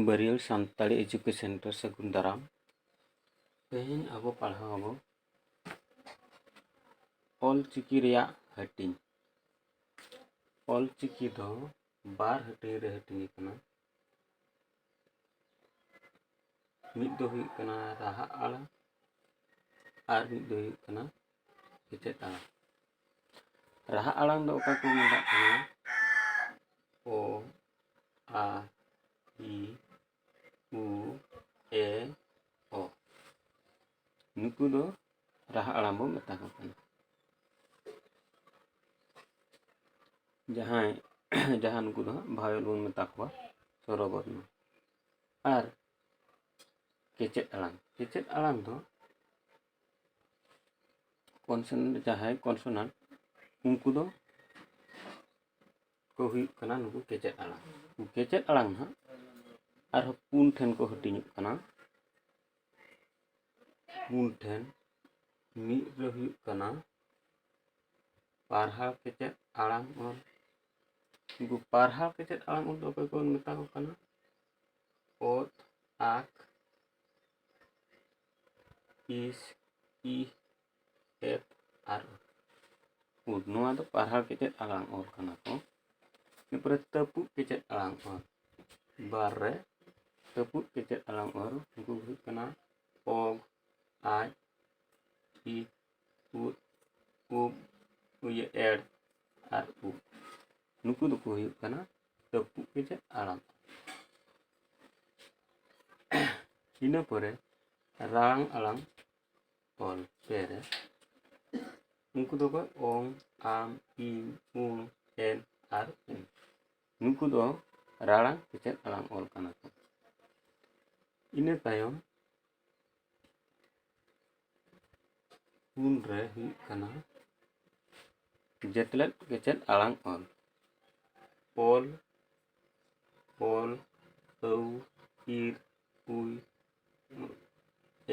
ᱵᱟᱹᱨᱤᱭᱟᱹᱞ Santali education ᱨᱮ ᱥᱟᱹᱜᱩᱱ ᱫᱟᱨᱟᱢ ᱛᱮᱦᱮᱧ ᱟᱵᱚ ᱯᱟᱲᱦᱟᱣ ᱟᱵᱚ ᱚᱞ ᱪᱤᱠᱤ ᱨᱮᱭᱟᱜ ᱦᱟᱹᱴᱤᱧ ᱚᱞ ᱪᱤᱠᱤ ᱫᱚ ᱵᱟᱨ ᱦᱟᱹᱴᱤᱧ ᱨᱮ ᱦᱟᱹᱴᱤᱧ ᱟᱠᱟᱱᱟ ᱢᱤᱫ ᱫᱚ ᱦᱩᱭᱩᱜ ᱠᱟᱱᱟ ᱨᱟᱦᱟ ᱟᱲᱟᱝ ᱟᱨ ᱢᱤᱫ ᱫᱚ ᱦᱩᱭᱩᱜ ᱠᱟᱱᱟ ᱥᱮᱪᱮᱫ ᱟᱲᱟᱝ ᱨᱟᱦᱟ ᱟᱲᱟᱝ ᱫᱚ ᱚᱠᱟ ᱠᱚ ᱢᱮᱛᱟᱜ ᱠᱟᱱᱟ ᱳ ᱟ ᱤ ᱩ ᱮ ᱚ ᱱᱩᱠᱩ ᱫᱚ ᱨᱟᱦᱟ ᱟᱲᱟᱝ ᱵᱚᱱ ᱢᱮᱛᱟ ᱠᱚ ᱠᱟᱱᱟ ᱡᱟᱦᱟᱸᱭ ᱡᱟᱦᱟᱸ ᱱᱩᱠᱩ ᱫᱚ ᱦᱟᱸᱜ ᱵᱷᱟᱭᱚᱞ ᱵᱚᱱ ᱢᱮᱛᱟ ᱠᱚᱣᱟ ᱥᱚᱨᱚᱵᱚᱨᱱᱚ ᱟᱨ ᱠᱮᱪᱮᱫ ᱟᱲᱟᱝ ᱠᱮᱪᱮᱫ ᱟᱲᱟᱝ ᱫᱚ ᱠᱚᱱᱥᱚᱱᱮᱱᱴ ᱡᱟᱦᱟᱸᱭ ᱠᱚᱱᱥᱚᱱᱮᱱᱴ ᱩᱱᱠᱩ ᱫᱚ ᱠᱚ ᱦᱩᱭᱩᱜ ᱠᱟᱱᱟ ᱱᱩᱠᱩ ᱠᱮᱪᱮᱫ ᱟᱲᱟᱝ ᱠᱮᱪᱮᱫ ᱟᱲᱟᱝ ᱦᱟᱸᱜ ᱟᱨᱦᱚᱸ ᱯᱩᱱ ᱴᱷᱮᱱ ᱠᱚ ᱦᱟᱹᱴᱤᱧᱚᱜ ᱠᱟᱱᱟ ᱯᱩᱱ ᱴᱷᱮᱱ ᱢᱤᱫ ᱨᱮ ᱦᱩᱭᱩᱜ ᱠᱟᱱᱟ ᱯᱟᱨᱦᱟᱣ ᱠᱮᱪᱮᱫ ᱟᱲᱟᱝ ᱚᱞ ᱩᱱᱠᱩ ᱯᱟᱨᱦᱟᱣ ᱠᱮᱪᱮᱫ ᱟᱲᱟᱝ ᱚᱞ ᱫᱚ ᱚᱠᱚᱭ ᱠᱚ ᱢᱮᱛᱟ ᱠᱚ ᱠᱟᱱᱟ ᱚᱛ ᱟᱠ ᱤᱥ ᱤ ᱮᱯᱷ ᱟᱨ ᱩᱫ ᱱᱚᱣᱟ ᱫᱚ ᱯᱟᱲᱦᱟᱣ ᱠᱮᱪᱮᱫ ᱟᱲᱟᱝ ᱚᱞ ᱠᱟᱱᱟ ᱠᱚ ᱮᱨᱯᱚᱨᱮ ᱛᱟᱹᱯᱩᱜ ᱠᱮᱪᱮᱫ ᱟᱲᱟᱝ ᱚᱞ ᱵᱟᱨ ᱨᱮ ᱛᱟᱹᱯᱩᱜ ᱠᱮᱪᱮᱫ ᱟᱲᱟᱝ ᱚᱞ ᱩᱱᱠᱩ ᱦᱩᱭᱩᱜ ᱠᱟᱱᱟ ᱚ ᱟᱡ ᱤ ᱩᱫ ᱩᱵ ᱤᱭᱟᱹ ᱮᱰ ᱟᱨ ᱩᱵ ᱱᱩᱠᱩ ᱫᱚᱠᱚ ᱦᱩᱭᱩᱜ ᱠᱟᱱᱟ ᱛᱟᱹᱯᱩᱜ ᱠᱟᱛᱮᱫ ᱟᱲᱟᱜ ᱤᱱᱟᱹ ᱯᱚᱨᱮ ᱨᱟᱝ ᱟᱲᱟᱝ ᱚᱞ ᱯᱮ ᱨᱮ ᱩᱱᱠᱩ ᱫᱚᱠᱚ ᱚᱝ ᱟᱢ ᱤᱧ ᱩᱱ ᱮᱱ ᱟᱨ ᱩᱱ ᱱᱩᱠᱩ ᱫᱚ ᱨᱟᱲᱟᱝ ᱠᱮᱪᱮᱫ ᱟᱲᱟᱝ ᱚᱞ ᱠᱟᱱᱟ ᱠᱚ ᱤᱱᱟᱹ ᱛᱟᱭᱚᱢ ᱯᱩᱱ ᱨᱮ ᱦᱩᱭᱩᱜ ᱠᱟᱱᱟ ᱡᱮᱛᱞᱮᱫ ᱠᱮᱪᱮᱫ ᱟᱲᱟᱝ ᱚᱞ ᱚᱞ ᱚᱞ ᱟᱹᱣ ᱤᱨ ᱩᱭ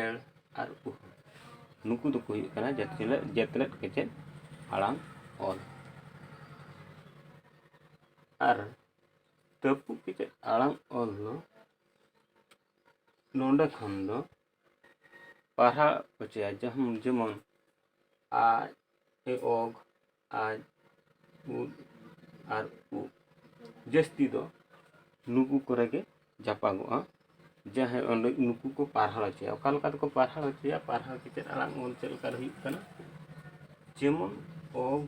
ᱮᱲ ᱟᱨ ᱩᱦ ᱱᱩᱠᱩ ᱫᱚᱠᱚ ᱦᱩᱭᱩᱜ ᱠᱟᱱᱟ ᱡᱮᱛᱞᱮᱫ ᱡᱮᱛᱞᱮᱫ ᱠᱮᱪᱮᱫ ᱟᱲᱟᱝ ᱚᱞ ᱟᱨ ᱛᱟᱹᱯᱩᱜ ᱠᱮᱪᱮᱫ ᱟᱲᱟᱝ ᱚᱞ ᱫᱚ ᱱᱚᱰᱮ ᱠᱷᱚᱱ ᱫᱚ ᱯᱟᱲᱦᱟᱜ ᱦᱚᱪᱚᱭᱟ ᱡᱟᱦᱟᱸ ᱡᱮᱢᱚᱱ ᱟᱡ ᱮ ᱚᱜ ᱟᱡ ᱩᱫ ᱟᱨ ᱩ ᱡᱟᱹᱥᱛᱤ ᱫᱚ ᱱᱩᱠᱩ ᱠᱚᱨᱮ ᱜᱮ ᱡᱟᱯᱟᱜᱚᱜᱼᱟ ᱡᱟᱦᱟᱸᱭ ᱚᱸᱰᱮ ᱱᱩᱠᱩ ᱠᱚ ᱯᱟᱲᱦᱟᱣ ᱦᱚᱪᱚᱭᱟ ᱚᱠᱟ ᱞᱮᱠᱟ ᱛᱮᱠᱚ ᱯᱟᱲᱦᱟᱣ ᱦᱚᱪᱚᱭᱟ ᱯᱟᱲᱦᱟᱣ ᱠᱟᱛᱮᱫ ᱟᱲᱟᱝ ᱚᱞ ᱪᱮᱫ ᱞᱮᱠᱟᱨᱮ ᱦᱩᱭᱩᱜ ᱠᱟᱱᱟ ᱡᱮᱢᱚᱱ ᱚᱜ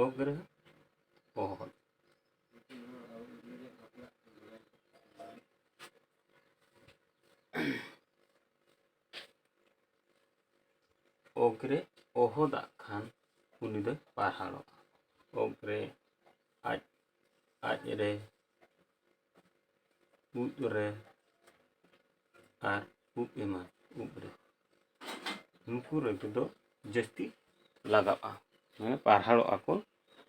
ᱚᱜ ᱨᱮ ᱚᱦᱚᱫ ᱚᱜᱽᱨᱮ ᱚᱦᱚᱫᱟᱜ ᱠᱷᱟᱱ ᱩᱱᱤ ᱫᱚᱭ ᱯᱟᱨᱦᱟᱲᱚᱜᱼᱟ ᱚᱜᱽᱨᱮ ᱟᱡ ᱟᱡ ᱨᱮ ᱩᱫ ᱨᱮ ᱟᱨ ᱩᱵ ᱮᱢᱟᱱ ᱩᱵ ᱨᱮ ᱱᱩᱠᱩ ᱨᱮᱫᱚ ᱡᱟᱹᱥᱛᱤ ᱞᱟᱜᱟᱜᱼᱟ ᱢᱟᱱᱮ ᱯᱟᱨᱦᱟᱲᱚᱜᱼᱟ ᱠᱚ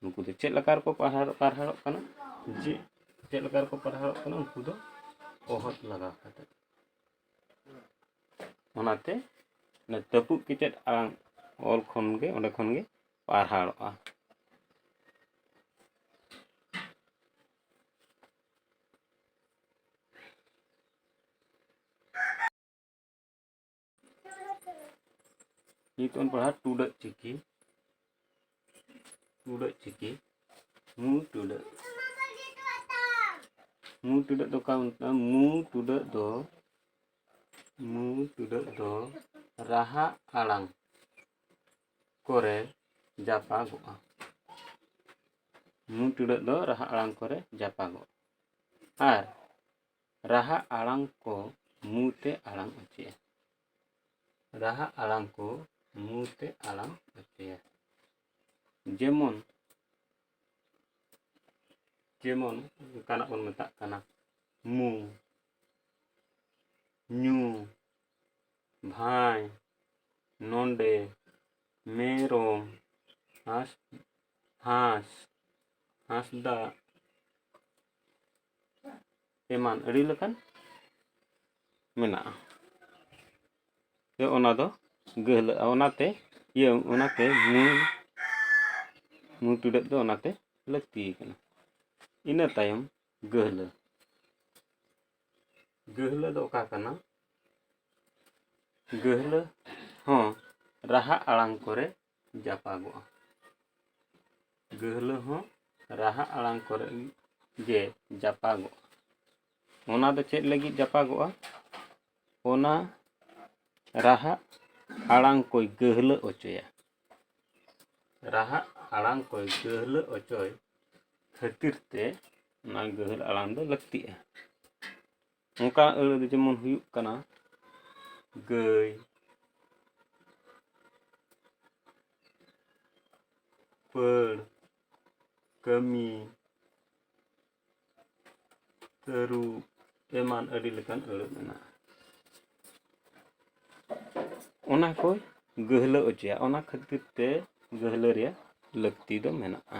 ᱱᱩᱠᱩ ᱫᱚ ᱪᱮᱫ ᱞᱮᱠᱟ ᱨᱮᱠᱚ ᱯᱟᱨᱦᱟᱲᱚᱜ ᱯᱟᱨᱦᱟᱲᱚᱜ ᱠᱟᱱᱟ ᱡᱮ ᱪᱮᱫ ᱞᱮᱠᱟ ᱨᱮᱠᱚ ᱯᱟᱨᱦᱟᱲᱚᱜ ᱠᱟᱱᱟ ᱩᱱᱠᱩ ᱫᱚ ᱚᱦᱚᱫ ᱞᱟᱜᱟᱣ ᱠᱟᱛᱮ ᱚᱱᱟᱛᱮ ᱚᱱᱟ ᱛᱟᱹᱯᱩᱜ ᱠᱮᱪᱮᱫ ᱟᱲᱟᱝ ᱚᱞ ᱠᱷᱚᱱ ᱜᱮ ᱚᱸᱰᱮ ᱠᱷᱚᱱ ᱜᱮ ᱯᱟᱨᱦᱟᱲᱚᱜᱼᱟ ᱱᱤᱛᱚᱜ ᱵᱚᱱ ᱯᱟᱲᱦᱟᱜ ᱴᱩᱰᱟᱹᱜ ᱪᱤᱠᱤ ᱴᱩᱰᱟᱹᱜ ᱪᱤᱠᱤ ᱢᱩ ᱴᱩᱰᱟᱹᱜ ᱢᱩ ᱴᱩᱰᱟᱹᱜ ᱫᱚ ᱠᱟᱱ ᱢᱩ ᱴᱩᱰᱟᱹᱜ ᱫᱚ ᱢᱩ ᱴᱩᱰᱟᱹᱜ ᱫᱚ ᱨᱟᱦᱟ ᱟᱲᱟᱝ ᱠᱚᱨᱮ ᱡᱟᱯᱟᱜᱚᱜᱼᱟ ᱢᱩ ᱴᱩᱰᱟᱹᱜ ᱫᱚ ᱨᱟᱦᱟ ᱟᱲᱟᱝ ᱠᱚᱨᱮ ᱡᱟᱯᱟᱜᱚᱜᱼᱟ ᱟᱨ ᱨᱟᱦᱟ ᱟᱲᱟᱝ ᱠᱚ ᱢᱩ ᱛᱮ ᱟᱲᱟᱝ ᱚᱪᱚᱭᱟ ᱨᱟᱦᱟ ᱟᱲᱟᱝ ᱠᱚ ᱢᱩ ᱛᱮ ᱟᱲᱟᱝ ᱚᱪᱚᱭᱟ ᱡᱮᱢᱚᱱ ᱡᱮᱢᱚᱱ ᱚᱱᱠᱟᱱᱟᱜ ᱵᱚᱱ ᱢᱮᱛᱟᱜ ᱠᱟᱱᱟ ᱢᱩ ᱧᱩ ᱵᱷᱟᱭ ᱱᱚᱸᱰᱮ ᱢᱮᱨᱚᱢ ᱦᱟᱸᱥ ᱦᱟᱸᱥ ᱦᱟᱸᱥᱫᱟ ᱮᱢᱟᱱ ᱟᱹᱰᱤ ᱞᱮᱠᱟᱱ ᱢᱮᱱᱟᱜᱼᱟ ᱡᱮ ᱚᱱᱟ ᱫᱚ ᱜᱟᱹᱦᱞᱟᱹᱜᱼᱟ ᱚᱱᱟᱛᱮ ᱤᱭᱟᱹ ᱚᱱᱟᱛᱮ ᱢᱩᱸ ᱢᱩᱸ ᱴᱩᱰᱟᱹᱜ ᱫᱚ ᱚᱱᱟᱛᱮ ᱞᱟᱹᱠᱛᱤ ᱠᱟᱱᱟ ᱤᱱᱟᱹ ᱛᱟᱭᱚᱢ ᱜᱟᱹᱦᱞᱟᱹ ᱜᱟᱹᱦᱞᱟᱹ ᱫᱚ ᱚᱠᱟ ᱠᱟᱱᱟ ᱜᱟᱹᱦᱞᱟᱹ ᱦᱚᱸ ᱨᱟᱦᱟ ᱟᱲᱟᱝ ᱠᱚᱨᱮ ᱡᱟᱯᱟᱜᱚᱜᱼᱟ ᱜᱟᱹᱦᱞᱟᱹ ᱦᱚᱸ ᱨᱟᱦᱟ ᱟᱲᱟᱝ ᱠᱚᱨᱮ ᱜᱮ ᱡᱟᱯᱟᱜᱚᱜᱼᱟ ᱚᱱᱟ ᱫᱚ ᱪᱮᱫ ᱞᱟᱹᱜᱤᱫ ᱡᱟᱯᱟᱜᱚᱜᱼᱟ ᱚᱱᱟ ᱨᱟᱦᱟ ᱟᱲᱟᱝ ᱠᱚᱭ ᱜᱟᱹᱦᱞᱟᱹ ᱚᱪᱚᱭᱟ ᱨᱟᱦᱟ ᱟᱲᱟᱝ ᱠᱚᱭ ᱜᱟᱹᱦᱞᱟᱹ ᱚᱪᱚᱭ ᱠᱷᱟᱹᱛᱤᱨ ᱛᱮ ᱚᱱᱟ ᱜᱟᱹᱦᱞᱟᱹ ᱟᱲᱟᱝ ᱫᱚ ᱞᱟᱹᱠᱛᱤᱜᱼᱟ ᱚᱱᱠᱟ ᱟᱹᱲᱟᱹ ᱫᱚ ᱡᱮᱢᱚᱱ ᱦᱩᱭᱩᱜ ᱠᱟᱱᱟ ᱜᱟᱹᱭ ᱯᱟᱹᱲ ᱠᱟᱹᱢᱤ ᱛᱟᱹᱨᱩᱵ ᱮᱢᱟᱱ ᱟᱹᱰᱤ ᱞᱮᱠᱟᱱ ᱟᱹᱲᱟᱹ ᱢᱮᱱᱟᱜᱼᱟ ᱚᱱᱟ ᱠᱚ ᱜᱟᱹᱦᱞᱟᱹ ᱚᱪᱚᱭᱟ ᱚᱱᱟ ᱠᱷᱟᱹᱛᱤᱨ ᱛᱮ ᱜᱟᱹᱦᱞᱟᱹ ᱨᱮᱭᱟᱜ ᱞᱟᱹᱠᱛᱤ ᱫᱚ ᱢᱮᱱᱟᱜᱼᱟ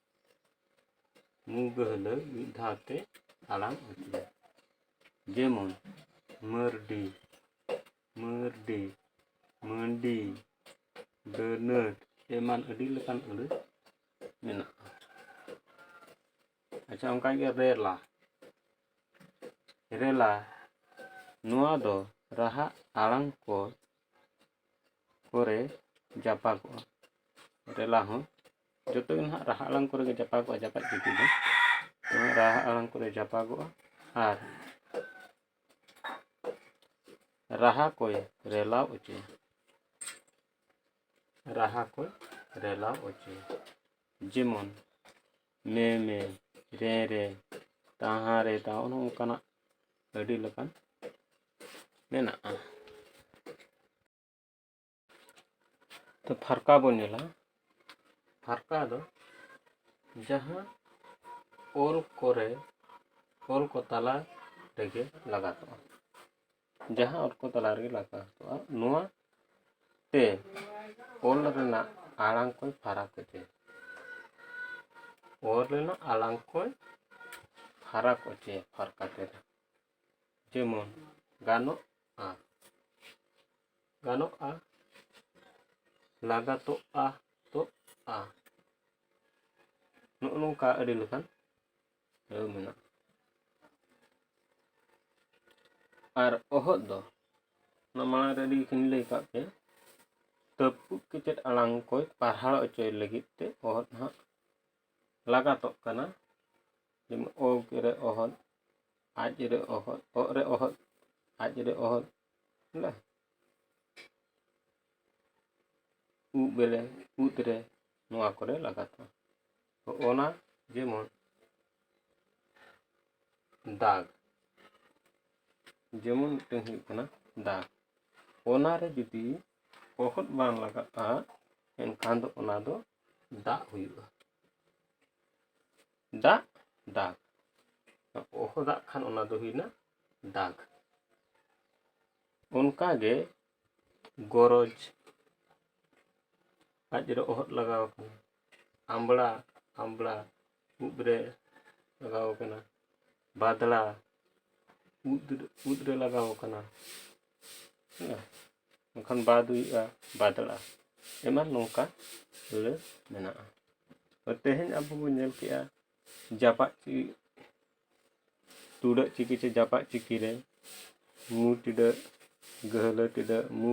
ᱢᱩᱜᱟᱹ ᱦᱟᱹᱞᱟᱹ ᱢᱤᱫ ᱫᱷᱟᱣ ᱛᱮ ᱟᱲᱟᱝ ᱟᱹᱪᱩᱨ ᱡᱮᱢᱚᱱ ᱢᱟᱹᱨᱰᱤ ᱢᱟᱹᱨᱰᱤ ᱢᱟᱹᱰᱤ ᱰᱟᱹᱱᱟᱹᱴ ᱮᱢᱟᱱ ᱟᱹᱰᱤ ᱞᱮᱠᱟᱱ ᱟᱹᱲᱟᱹ ᱢᱮᱱᱟᱜᱼᱟ ᱟᱪᱪᱷᱟ ᱚᱱᱠᱟᱜᱮ ᱨᱮᱞᱟ ᱨᱮᱞᱟ ᱱᱚᱣᱟ ᱫᱚ ᱨᱟᱦᱟ ᱟᱲᱟᱝ ᱠᱚ ᱠᱚᱨᱮ ᱡᱟᱯᱟᱜᱚᱜᱼᱟ ᱨᱮᱞᱟ ᱦᱚᱸ ᱡᱚᱛᱚ ᱜᱮ ᱱᱟᱦᱟᱜ ᱨᱟᱦᱟ ᱟᱲᱟᱝ ᱠᱚᱨᱮ ᱜᱮ ᱡᱟᱯᱟᱜᱚᱜᱼᱟ ᱡᱟᱯᱟᱜ ᱡᱩᱫᱤ ᱫᱚ ᱱᱚᱣᱟ ᱨᱟᱦᱟ ᱟᱲᱟᱝ ᱠᱚᱨᱮ ᱡᱟᱯᱟᱜᱚᱜᱼᱟ ᱟᱨ ᱨᱟᱦᱟ ᱠᱚᱭ ᱨᱮᱞᱟᱣ ᱚᱪᱚᱭᱟ ᱨᱟᱦᱟ ᱠᱚᱭ ᱨᱮᱞᱟᱣ ᱚᱪᱚᱭᱟ ᱡᱮᱢᱚᱱ ᱢᱮ ᱢᱮ ᱨᱮ ᱨᱮ ᱛᱟᱦᱟ ᱨᱮ ᱛᱟᱦᱟ ᱚᱱᱮ ᱚᱱᱠᱟᱱᱟᱜ ᱟᱹᱰᱤ ᱞᱮᱠᱟᱱ ᱢᱮᱱᱟᱜᱼᱟ ᱛᱚ ᱯᱷᱟᱨᱠᱟ ᱵᱚᱱ ᱧᱮᱞᱟ ᱯᱷᱟᱨᱠᱟ ᱫᱚ ᱡᱟᱦᱟᱸ ᱚᱞ ᱠᱚᱨᱮ ᱚᱞ ᱠᱚ ᱛᱟᱞᱟ ᱨᱮᱜᱮ ᱞᱟᱜᱟᱛᱚᱜᱼᱟ ᱡᱟᱦᱟᱸ ᱚᱞ ᱠᱚ ᱛᱟᱞᱟ ᱨᱮᱜᱮ ᱞᱟᱜᱟᱛᱚᱜᱼᱟ ᱱᱚᱣᱟ ᱛᱮ ᱚᱞ ᱨᱮᱱᱟᱜ ᱟᱲᱟᱝ ᱠᱚᱭ ᱯᱷᱟᱨᱟᱠ ᱚᱪᱚᱭᱟ ᱚᱞ ᱨᱮᱱᱟᱜ ᱟᱲᱟᱝ ᱠᱚᱭ ᱯᱷᱟᱨᱟᱠ ᱚᱪᱚᱭᱟ ᱯᱷᱟᱨᱠᱟ ᱛᱮᱫᱚ ᱡᱮᱢᱚᱱ ᱜᱟᱱᱚᱜᱼᱟ ᱜᱟᱱᱚᱜᱼᱟ ᱞᱟᱜᱟᱛᱚᱜᱼᱟ ᱛᱚᱜᱼᱟ ᱱᱚᱜᱼᱚ ᱱᱚᱝᱠᱟ ᱟᱹᱰᱤ ᱞᱮᱠᱟᱱ ᱟᱹᱲᱟᱹ ᱢᱮᱱᱟᱜᱼᱟ ᱟᱨ ᱚᱦᱚᱫ ᱫᱚ ᱚᱱᱟ ᱢᱟᱲᱟᱝ ᱨᱮ ᱟᱹᱰᱤ ᱠᱤᱱ ᱞᱟᱹᱭ ᱠᱟᱜ ᱯᱮ ᱛᱟᱹᱯᱩᱜ ᱠᱮᱪᱮᱫ ᱟᱲᱟᱝ ᱠᱚᱭ ᱯᱟᱨᱦᱟᱲ ᱚᱪᱚᱭ ᱞᱟᱹᱜᱤᱫ ᱛᱮ ᱚᱦᱚᱫ ᱦᱟᱸᱜ ᱞᱟᱜᱟᱛᱚᱜ ᱠᱟᱱᱟ ᱡᱮᱢᱚᱱ ᱚ ᱨᱮ ᱚᱦᱚᱫ ᱟᱡ ᱨᱮ ᱚᱦᱚᱫ ᱚᱜ ᱨᱮ ᱚᱦᱚᱫ ᱟᱡ ᱨᱮ ᱚᱦᱚᱫ ᱵᱚᱞᱮ ᱩᱵ ᱵᱮᱞᱮ ᱩᱫ ᱨᱮ ᱱᱚᱣᱟ ᱠᱚᱨᱮ ᱞᱟᱜᱟᱛᱚᱜᱼᱟ ᱛᱚ ᱚᱱᱟ ᱡᱮᱢᱚᱱ ᱫᱟᱜᱽ ᱡᱮᱢᱚᱱ ᱢᱤᱫᱴᱟᱝ ᱦᱩᱭᱩᱜ ᱠᱟᱱᱟ ᱫᱟᱜᱽ ᱚᱱᱟᱨᱮ ᱡᱩᱫᱤ ᱚᱦᱚᱫ ᱵᱟᱝ ᱞᱟᱜᱟᱜᱼᱟ ᱮᱱᱠᱷᱟᱱ ᱫᱚ ᱚᱱᱟ ᱫᱚ ᱫᱟᱜ ᱦᱩᱭᱩᱜᱼᱟ ᱫᱟᱜ ᱫᱟᱜ ᱚᱦᱚ ᱫᱟᱜ ᱠᱷᱟᱱ ᱚᱱᱟ ᱫᱚ ᱦᱩᱭᱱᱟ ᱫᱟᱜ ᱚᱱᱠᱟᱜᱮ ᱜᱚᱨᱚᱡᱽ ᱟᱡ ᱨᱮ ᱚᱦᱚᱫ ᱞᱟᱜᱟᱣ ᱠᱟᱱᱟ ᱟᱢᱵᱽᱲᱟ ᱟᱢᱵᱽᱲᱟ ᱩᱵ ᱨᱮ ᱞᱟᱜᱟᱣ ᱟᱠᱟᱱᱟ ᱵᱟᱫᱽᱲᱟ ᱩᱫ ᱩᱫ ᱨᱮ ᱞᱟᱜᱟᱣ ᱟᱠᱟᱱᱟ ᱦᱮᱸ ᱵᱟᱝᱠᱷᱟᱱ ᱵᱟᱫᱽ ᱦᱩᱭᱩᱜᱼᱟ ᱵᱟᱫᱽᱲᱟ ᱮᱢᱟᱱ ᱱᱚᱝᱠᱟ ᱟᱹᱲᱟᱹ ᱢᱮᱱᱟᱜᱼᱟ ᱛᱮᱦᱮᱧ ᱟᱵᱚ ᱵᱚᱱ ᱧᱮᱞ ᱠᱮᱜᱼᱟ ᱡᱟᱯᱟᱜ ᱪᱤ ᱴᱩᱰᱟᱹᱜ ᱪᱤᱠᱤ ᱪᱮ ᱡᱟᱯᱟᱜ ᱪᱤᱠᱤ ᱨᱮ ᱢᱩ ᱴᱤᱰᱟᱹᱜ ᱜᱟᱹᱦᱞᱟᱹ ᱴᱤᱰᱟᱹᱜ ᱢᱩ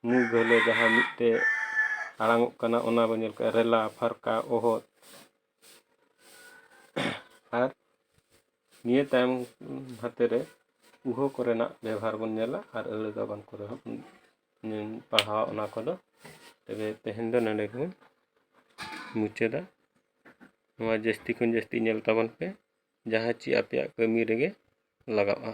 ᱢᱩ ᱜᱟᱹᱦᱞᱟᱹ ᱡᱟᱦᱟᱸ ᱢᱤᱫᱛᱮ ᱟᱲᱟᱝᱚᱜ ᱠᱟᱱᱟ ᱚᱱᱟ ᱵᱚᱱ ᱧᱮᱞ ᱠᱟᱜᱼᱟ ᱨᱮᱞᱟ ᱯᱷᱟᱨᱠᱟ ᱚᱦᱚᱫ ᱟᱨ ᱱᱤᱭᱟᱹ ᱛᱟᱭᱚᱢ ᱦᱟᱛᱮ ᱨᱮ ᱩᱦᱟᱹ ᱠᱚᱨᱮᱱᱟᱜ ᱵᱮᱵᱷᱟᱨ ᱵᱚᱱ ᱧᱮᱞᱟ ᱟᱨ ᱟᱹᱲᱟᱹ ᱜᱟᱵᱟᱱ ᱠᱚᱨᱮ ᱦᱚᱸ ᱯᱟᱲᱦᱟᱣᱟ ᱚᱱᱟ ᱠᱚᱫᱚ ᱛᱚᱵᱮ ᱛᱮᱦᱮᱧ ᱫᱚ ᱱᱚᱰᱮ ᱜᱮᱵᱚᱱ ᱢᱩᱪᱟᱹᱫᱟ ᱱᱚᱣᱟ ᱡᱟᱹᱥᱛᱤ ᱠᱷᱚᱱ ᱡᱟᱹᱥᱛᱤ ᱧᱮᱞ ᱛᱟᱵᱚᱱ ᱯᱮ ᱡᱟᱦᱟᱸ ᱪᱮ ᱟᱯᱮᱭᱟᱜ ᱠᱟᱹᱢᱤ ᱨᱮᱜᱮ ᱞᱟᱜᱟᱜᱼᱟ